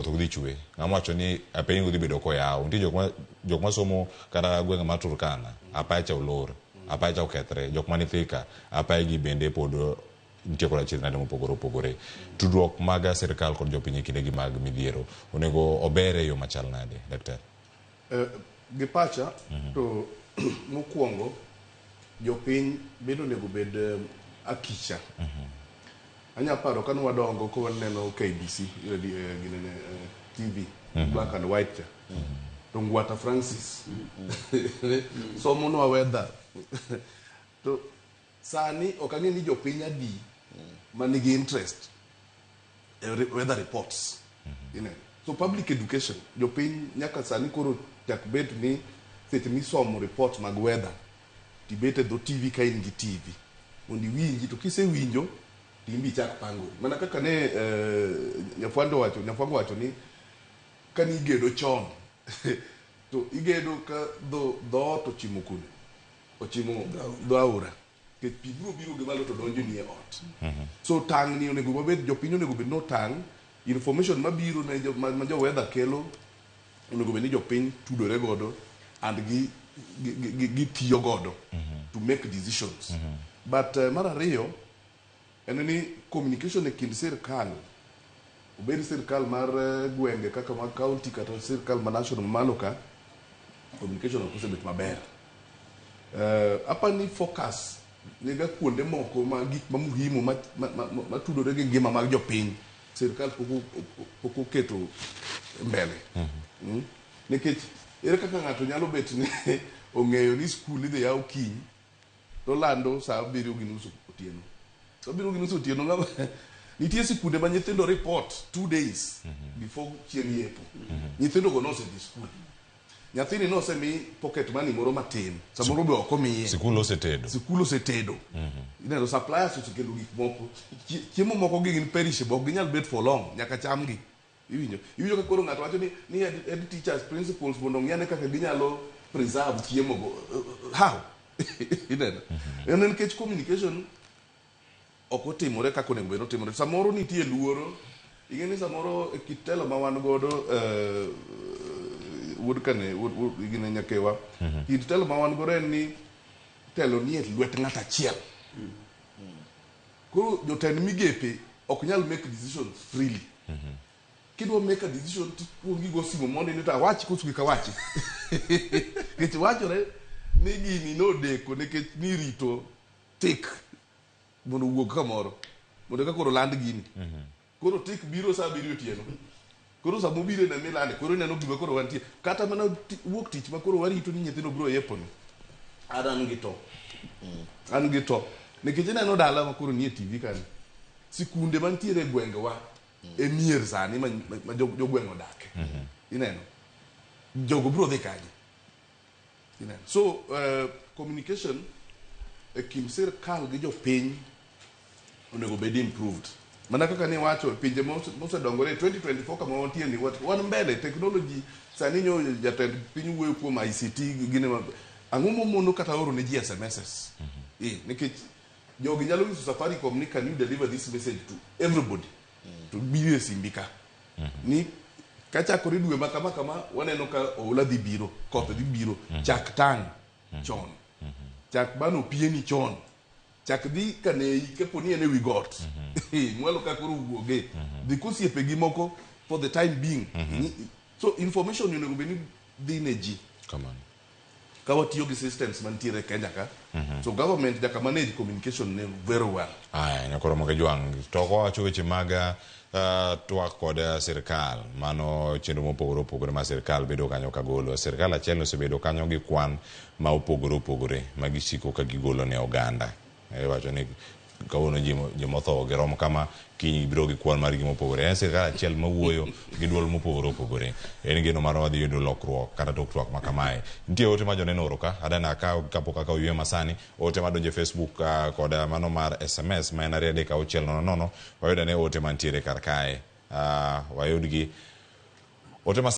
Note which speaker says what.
Speaker 1: koth dhi chwe ng'ama wacho ni piny udhi bedo koyaw nitie jok ma jok ma somo kata gwenge mar Turkana apacha olor apacha okethre jok man Thika apayagi bende pod nitie koda chirnade mopogore opogore tudruok mag sirkal kod jopiny e kindegi mag midhiero onego ober e yo machal nade daktari Eh,
Speaker 2: gi pacha mhm. to mokwongo jopiny bende onego bed eh, akicha mhm. anya paro kane wadongo ka waneno KBC eh, ginene TV mhm. black and white cha to Ngwata Francis somonwa weather to Sani ok ang'e ni jopiny adi ma nigi interest e re- weather reports. Ineno? So public education, jopiny nyaka sani koro chak bet ni seche misomo report mag weather, tibet e dho TV ka in gi TV. Mondo iwinji, to kisewinjo, to in be ichak pangori. Mana kaka ne eh, Nyafwando wacho, Nyafwango wacho ni ka nigedo chon to igedo ka dho dhoot ochimo kune ochimo dho aora kech pi biro biro gi malo to donjo nie ot mhm. so tang' ni onego wabed jopiny onego bed notang' information mabiro ne ma jo weather kelo onego bed ni jopiny tudore godo and gi gitiyo godo mhm. to make decisions mhm. but eh, mar ariyo En ni communication e kind sirkal, obed sirkal mar gwenge kaka mag county kata sirkal ma national mamalo ka, communication ok osebet maber. Uh, apa ni focus niga kuonde moko ma gik ma muhimu matudore gi ngima mag jopiny sirkal pok oketo mbele mm-hmm. hmm? nikech ere kaka ng'ato nyalo bet ni ong'eyo ni skul idhi yaw kiny To lando saa abiriyo gi nus otieno. Saa abiriyo gi nus otieno ng'ama nitie sikunde ma nyithindo report two days before chieng' yepo. Nyithindo go nosedhi skul. Nyathini nosemi pocket money moro matin. Samoro be ok omiye. Sikul osetedo. Sikul
Speaker 1: osetedo. Ineno suppliers osekelo
Speaker 2: gik moko. Chie- Chiemo moko gi gin perishable ok ginyal bet for long nyaka chamgi. Iwinjo? Iwinjo ka koro ng'ato wacho ni, ni ed, ed teachers principles mondo ong'i ane kaka ginyalo preserve chiemo go. How? Ineno? En en nikech communication ok otimore kaka onego bed ni otimore. Samoro nitie luoro. Ing'e ni samoro e kit telo ma wan godo, eh, wuod kane, wuod, wuod gine nyakewa, kit telo ma wan godo en ni telo nie lwet ng'at achiel. Koro jotend migepe ok nyal make decisions freely. Mm -hmm. Kidwa make a decision to kuongi go simo mondo ni ta wachi koso kik awachi. Nikech wachore ni gini nodeko nikech nirito tik mondo wuog kamoro mondo ka koro land gini. Mm -hmm. Koro tik biro saa abiriyo otieno. Koro sama obiro ineno milande, koro ineno gima koro wantie. Kata mana ti- wuok tich ma koro warito ni nyithindo biro e apron. An an gi to. An gi to. Nikech ineno dala ma koro nie TV kani. Sikunde mantiere e gwengewa e mier sani ma, ma jo- jogweng' odake. Ineno. Jogo biro dhi kanye? Ineno. So eh, communication e kind sirkal gi jopiny onego bed improved. Mana kaka ne wacho e pinje mose- mosedongore 2024 kama wantie ni wat- wan mbele technology sani nyo jatend piny wuoyo kuom ICT gi- gine ma- ang'o momono kata oro ne ji SMSs. Eh, nikech jogi nyalo nyiso Safaricom ni can you deliver this message to everybody. to biro e simbi ka ni kachakore dwe ma kama kama waneno ka oula dhi biro koth dhi biro chak tang chon chak bano pieni chon chak dhi kaneyi kapo ni en e wi got mwalo ka koro wuoge dhi kosiepe gi moko for the time being so information onego bed ni dhi ne ji Kamano. ka watiyo gi systems mantiere e Kenya ka mhm. so government nyaka manage communication ne very well aya nyakoro moke
Speaker 1: jwang to wacho weche mag uh, twak kod uh, sirkal mano chenro mopogore opogore ma sirkal bedo kanyo ka golo sirkal achiel osebedo kanyo gi kwan ma opogore opogore ma gisiko ka gigolo ne oganda Iwacho ni kawuono ji mo- joma otho girom kama, kiny gibiro gi kwan margi mopogore. En sirkal achiel mawuoyo gi dwol mopogore opogore. En geno marwa wadhi yudo lokruok kata tok twak ma kamae. Nitie ote ma joneno oro ka, adani akaw kapok akaw yweyo masani. Ote madonjo e Facebook ah, kod ah, mano mar SMS ma en ariyo adek auchiel nono nono. Wayud ane ote mantiere kar kae. Ah, wayudgi. Ote ma